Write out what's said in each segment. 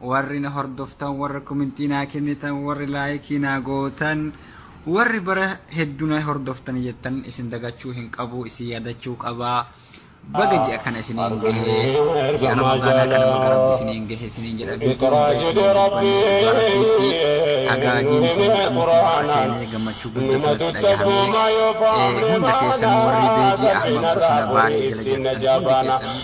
Warri na hordoftan, warri kumintii naa kennitan, warri laayikii naa gootan, warri bara heddu na hordoftan jettan isin dagachuu hin qabu, isin yaadachuu qaba. Baga ji'a kana isiniin gahe, ji'a Ramadaanaa kana baga Rabbi isiniin gahe isiniin jedha. Guutuu waggaa isiniin dubbanne dhugaa Rabbiitti agaajiin kun amma kumaara seenee gammachuu guddatu natti dhagahame. Hunda keessanuu warri beejii Ahmad Bosona Baalee jala jirtan hundi keessanuu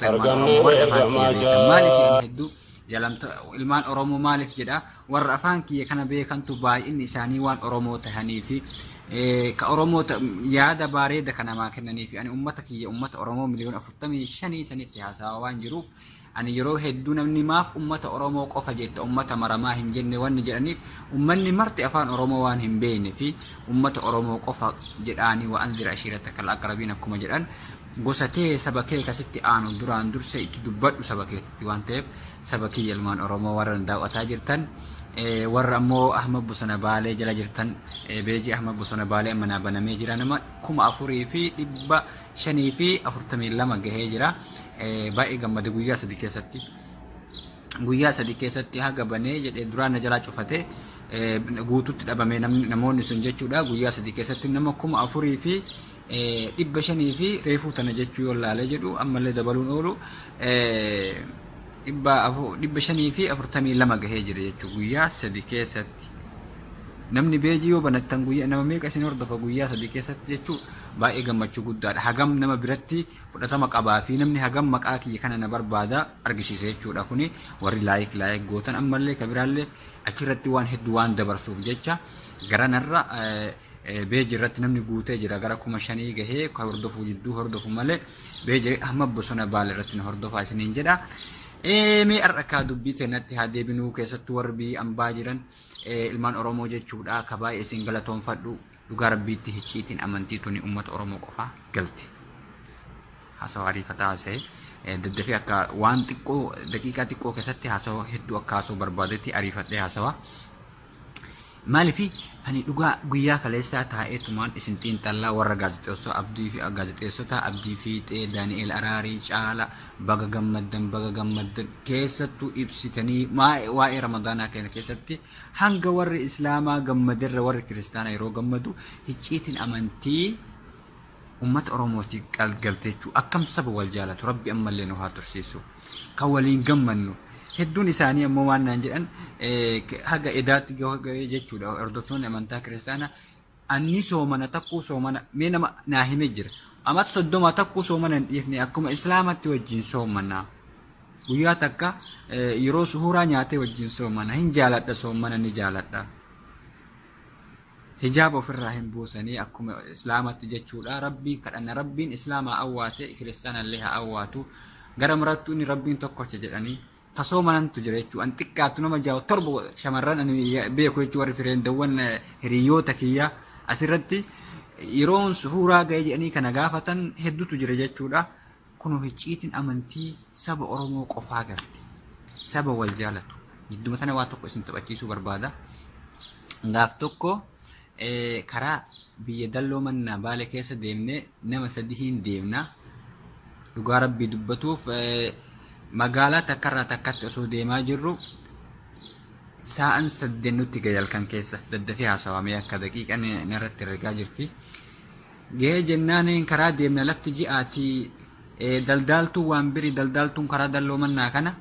Oromoota ilmaan Argamee Oromoo warri afaan kiyya ergamaa beekan maaliif jaa. inni hedduu jalamta ilmaan Oromoo maaliif jedha warra afaan kiyya kana beekantu baay'inni isaanii waan Oromoo tahanii fi eh, ka Oromoota yaada bareeda kan namaa kennanii fi ani ummata kiyya ummata Oromoo miliyoona afurtamii shanii sanitti haasawaa waan jiruuf ani yeroo hedduu namni maaf ummata Oromoo qofa jetta ummata maramaa hin jenne wanni jedhaniif ummanni marti afaan Oromoo waan hin beekne fi ummata Oromoo qofa jedhaanii waan dira ashiirata kal aqrabiin akkuma jedhan Gosa tee saba kee ka sitti aanu duraan dursee itti dubbadhu saba keetitti waan ta'eef saba kiyya ilmaan oromoo warra na daaw'ataa jirtan warra ammoo ahmad bosona baalee jala jirtan beejii ahmad bosona baalee amma naa banamee jira nama kuma afurii fi dhibba shanii fi afurtamii lama gahee jira baay'ee gammade guyyaa sadi keessatti guyyaa sadi keessatti haga banee jedhee duraan na jalaa cufate guututti dhabame namoonni sun jechuudha guyyaa sadi keessatti nama kuma afurii fi dhibba shanii fi reefuu tana jechuu yoo laalee jedhu ammallee dabaluun oolu dhibba shanii fi afurtamii lama gahee jira jechuu guyyaa sadi keessatti namni beejii yoo banattan guyyaa nama meeqa isin hordofa guyyaa sadi keessatti jechuu baay'ee gammachuu guddaadha hagam nama biratti fudhatama qabaa fi namni hagam maqaa kiyya kana na barbaada argisiisa jechuudha kuni warri laayik laayik gootan ammallee kabiraallee achirratti waan hedduu waan dabarsuuf jecha garanarra Beeji irratti namni guutee jira gara kuma shanii gahee ka hordofuu jidduu hordofu malee beeji amma bosona baala irratti na hordofaa isiniin jedha. Mee har'a kaa dubbii teenatti haa deebinuu keessattuu warri biyya ambaa jiran ilmaan Oromoo jechuudha ka baay'ee isin galatoonfadhu dhugaa rabbiitti hicciitiin amantii tuni uummata Oromoo qofaa galte. Haasawaa ariifataa haasa'e daddafee akka waan xiqqoo daqiiqaa xiqqoo keessatti haasawaa hedduu akka haasawuu barbaadetti ariifadhee haasawaa. Maaliif ani dhugaa guyyaa kaleessaa taa'ee tumaan isin xiinxallaa warra gaazexeessoo Abdii fi gaazexeessota Abdii Fiixee, Daani'eel Araarii, Caala baga gammaddan baga gammaddan keessattuu ibsitanii waa'ee waa'ee Ramadaanaa keenya keessatti hanga warri Islaamaa gammaderra warri Kiristaanaa yeroo gammadu hicciitiin amantii Ummata Oromooti galteechuu akkam saba wal jaalatu rabbi ammallee nu haa tursiisu kan waliin gammannu hedduun isaanii ammoo waan naan jedhan haga edaatti gahee jechuudha hordoftoonni amantaa kiristaanaa anni soomana takkuu soomana mee nama naa hime jira amat soddoma takkuu soomana hin dhiifne akkuma islaamatti wajjin soomana guyyaa takka yeroo suhuuraa nyaatee wajjin soomana hin jaaladha soomana ni jaaladha. Hijaaba ofirraa hin buusanii akkuma islaamatti jechuudha rabbiin kadhanna rabbiin islaamaa awwaate kiristaanallee haa awwaatu gara marattuu inni rabbiin tokkocha jedhanii tasoo manantu jira jechuu an xiqqaattu nama jaa'u torba shamarran ani beeku jechuu warri fireendawwan hiriyoota kiyya asirratti yeroon suhuuraa ga'ee jedhanii kana gaafatan hedduutu jira jechuudha. Kunoo hicciitiin amantii saba Oromoo qofaa galte. Saba wal jaalatu. Jidduma tana waa tokko isin taphachiisuu barbaada. Gaaf tokko karaa biyya dalloo mannaa baale keessa deemnee nama sadihiin deemna. Dhugaa rabbii dubbatuuf magaalaa takkarraa takkatti osoo deemaa jirru saa'an sadden nutti gayalkan keessa daddafee haasawamee akka daqiiqan narratti ergaa jirti. Gahee jennaan een karaa deemna lafti ji'aati ee daldaaltuun waan biri daldaaltuun karaa dalloo mannaa kana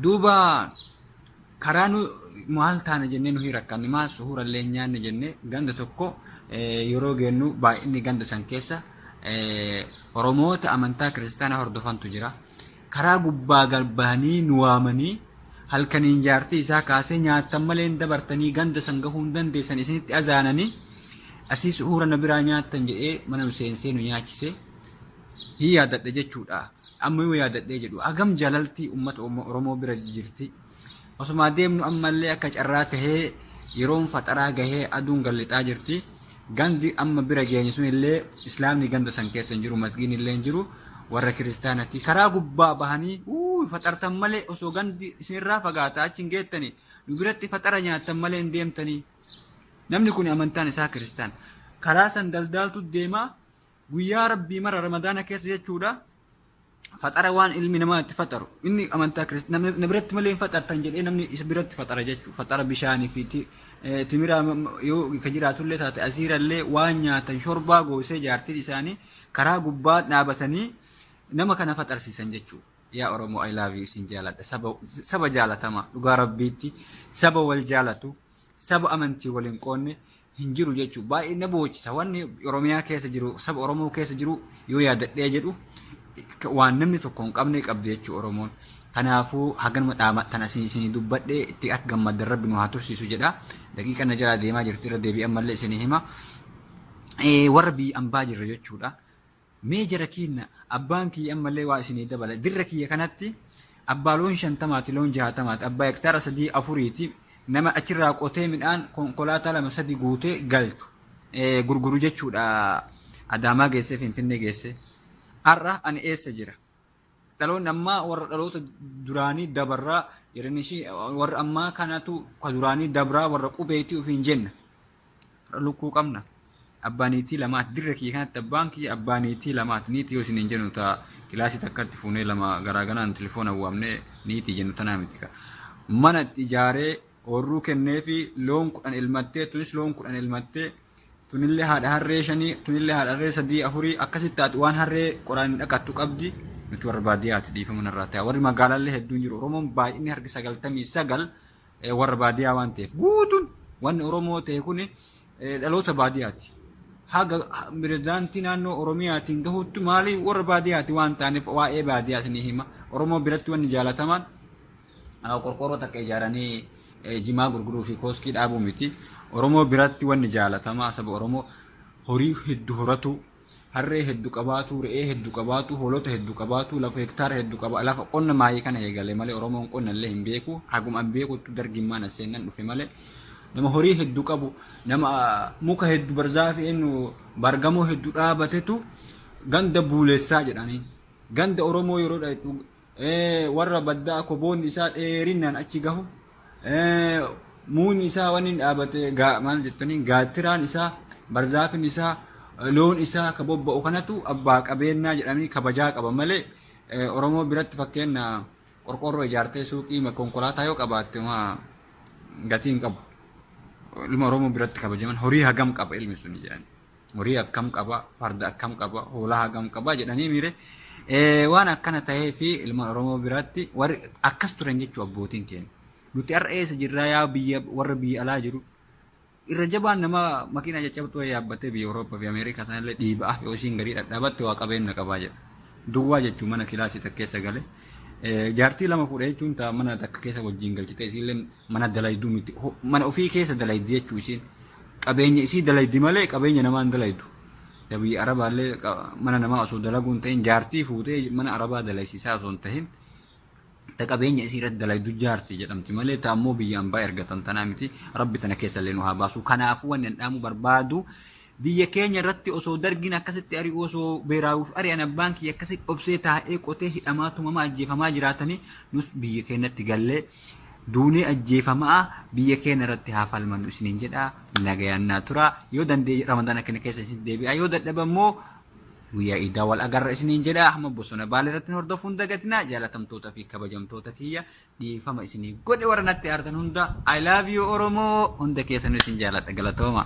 duuba karaa nu maal taana jennee nuhi rakkanne maal suhuurallee hin nyaanne jennee ganda tokko ee, yeroo geennu baay'inni ganda san keessa ee, Oromoota amantaa kiristaanaa hordofantu jira. Karaa gubbaa gad bahanii nu waamanii, halkaniin jaartii isaa kaasee, Nyaattan malee hin dabartanii, ganda san gahuu hin dandeessan isinitti azaananii, asii suhuura na biraa nyaattan jedhee mana nu seensee nu nyaachise. Hin yaadadha jechuudha. Amma yoo yaadadhee jedhu hagam jaalalti ummata Oromoo bira jirti. Osumaa deemnu ammallee akka carraa tahee yeroon faxaraa gahee aduun gad lixaa jirti. Gandi amma bira geenye sunillee Islaamni ganda san keessa hin jiru, masgiidnillee hin jiru, warra kiristaanati. Karaa gubbaa bahanii uuy faxartan malee osoo gandi isinirraa fagaata achi hin geettani nu biratti faxara nyaattan malee hin deemtanii. Namni kuni amantaan isaa kiristaan. Karaa san daldaaltu deema guyyaa rabbii mara ramadaana keessa jechuudha faxara waan ilmi namaa itti faxaru inni amantaa kirist- namni na biratti malee hin faxartan jedhee namni isa biratti faxara jechuudha faxara bishaanii fi ti- eh, timiraa m- m- yoo ka jiraatullee taate asiirallee waan nyaatan shorbaa goosee jaartiin isaanii karaa gubbaa dhaabatanii nama kana faxarsiisan jechuudha. Yaa Oromoo I love you isin jaaladha saba saba jaalatamaa dhugaa rabbiitti saba wal jaalatu saba amantii wal hin qoonne hin jiru jechuu baay'ee na boochisa wanni Oromiyaa keessa jiru saba Oromoo keessa jiru yoo yaadadhee jedhu waan namni tokko hin qabne qabdi jechuu Oromoon. Kanaafuu haganuma dhaama tan asiin isinii dubbadhe itti akka gammaddan rabbi nu haa tursiisu jedha. Daqiiqa na jalaa deemaa jirti irra deebi'an malee isinii hima. Warra biyya ambaa jirra jechuudha. Mee jara kiinna abbaan kiyya ammallee waa isinii dabala dirra kiyya kanatti abbaa loon shantamaati loon jahatamaati abbaa hektaara sadii afuriiti nama achirraa qotee midhaan konkolaataa lama sadi guutee galchu gurguru jechuudha adaamaa geessee finfinnee geessee har'a ani eessa jira Dhaloonni ammaa warra dhaloota duraanii dabarraa yeroo ishii warra ammaa kanatu ka duraanii dabraa warra qubeetii ofiin jenna. Lukkuu qabna. Abbaa niitii lamaati. Dirra kiyya kanatti abbaan kiyya abbaa niitii lamaati. Niitii yoo isiniin jennu ta'a kilaasii takkatti fuunee lama garaa ganaan tilifoona waamnee niitii jennu tanaa miti ka. Mana itti ijaaree oorruu kennee fi loon kudhan elmattee tunis loon kudhan elmattee tunillee haadha harree shanii tunillee haadha harree sadii afurii akkasitti taati waan harree qoraan hin dhaqattu qabdi nuti warra baadiyyaati dhiifama narraa ta'a warri magaalaallee hedduun jiru oromoon baay'inni harki sagaltamii sagal eh, warra baadiyyaa waan ta'eef guutuun wanni oromoo ta'e kuni eh, dhaloota baadiyyaati haga ha- pirezidaantii naannoo oromiyaatiin gahutti maalii warra baadiyyaati waan ta'aniif waa'ee baadiyyaa isinii hima oromoo biratti wanni jaalatamaan qorqoorroo takka ijaaranii jimaa gurguruu fi kooskii dhaabuu miti. Oromoo biratti wanni jaalatamaa saba Oromoo horii heddu horatu, harree heddu qabaatu, re'ee heddu qabaatu, hoolota heddu qabaatu, lafa hektaara heddu qaba. Lafa qonna maayii kana eegale malee Oromoon qonna illee hin beeku. Haguma an beekuttu dargiin maan as seennan dhufe malee. Nama horii heddu qabu, nama muka heddu barzaafi eenyu baargamoo heddu dhaabatetu ganda buulessaa jedhaniin. Ganda Oromoo yeroo dhaqxu warra baddaa koboonni isaa dheerinnaan achi gahu muunyi isaa waan inni dhaabate maal jettaniin gaattiraan isaa barzaafin isaa loon isaa ka bobba'u kanatu abbaa qabeennaa jedhanii kabajaa qaba malee Oromoo biratti fakkeenya qorqoorroo ijaartee suuqii konkolaataa yoo qabaatte gatii hin qabu. Ilma Oromoo biratti kabajaman horii hagam qaba ilmi sun jedhanii. horii akkam qaba farda akkam qaba hoolaa hagam qaba jedhanii miire waan akkana ta'ee fi ilmaan oromoo biraatti warri akkas turan jechuu abbootiin keenya nuti har'a eessa jirraa yaa biyya warra biyya alaa jiru irra jabaan nama makiinaa caccabtuu yaabbatee biyya Awurooppaa fi Ameerikaa sanallee dhiibaa yoo isiin garii dhadhaabatte waa qabeenya qabaa jedha. Duwwaa jechuun mana kilaasii takka keessa gale. Jaartii lama fuudhee jechuun ta'a mana takka keessa wajjin galchite isiillee mana dalayduu miti mana ofii keessa dalaydi jechuu isiin Qabeenya isii dalaydi malee qabeenya namaa hin dalaydu. Yaa biyya Arabaa illee mana namaa osoo dalaguu hin ta'in jaartii fuutee mana Arabaa dalaysiisaa osoo hin ta'in ta qabeenya isii irratti dalaydu jaartii jedhamti malee ta ammoo biyya ambaa ergatan tanaa miti rabbi tana keessa illee nu haa baasu. Kanaafuu wanni an dhaamu barbaadu biyya keenya irratti osoo dargiin akkasitti ari'u osoo beeraawuuf ari'an abbaan kiyya akkasitti obsee taa'ee qotee hidhamaa tumamaa ajjeefamaa jiraatanii nus biyya keenyatti gallee Duunee ajjeefama'a biyya keenya irratti haa falmannu isiniin jedha nagayaan naa tura yoo dandeenye ramadaana keenya keessa isinitti deebi'a yoo dadhabe immoo guyyaa iidaa wal agarra isiniin jedha hamma bosona baalee irratti nu hordofuun hin dagatina jaalatamtoota fi kabajamtoota kiyya dhiifama isinii godhe warra natti aartan hunda I love you Oromoo hunda keessanuu isin jaaladha galatooma.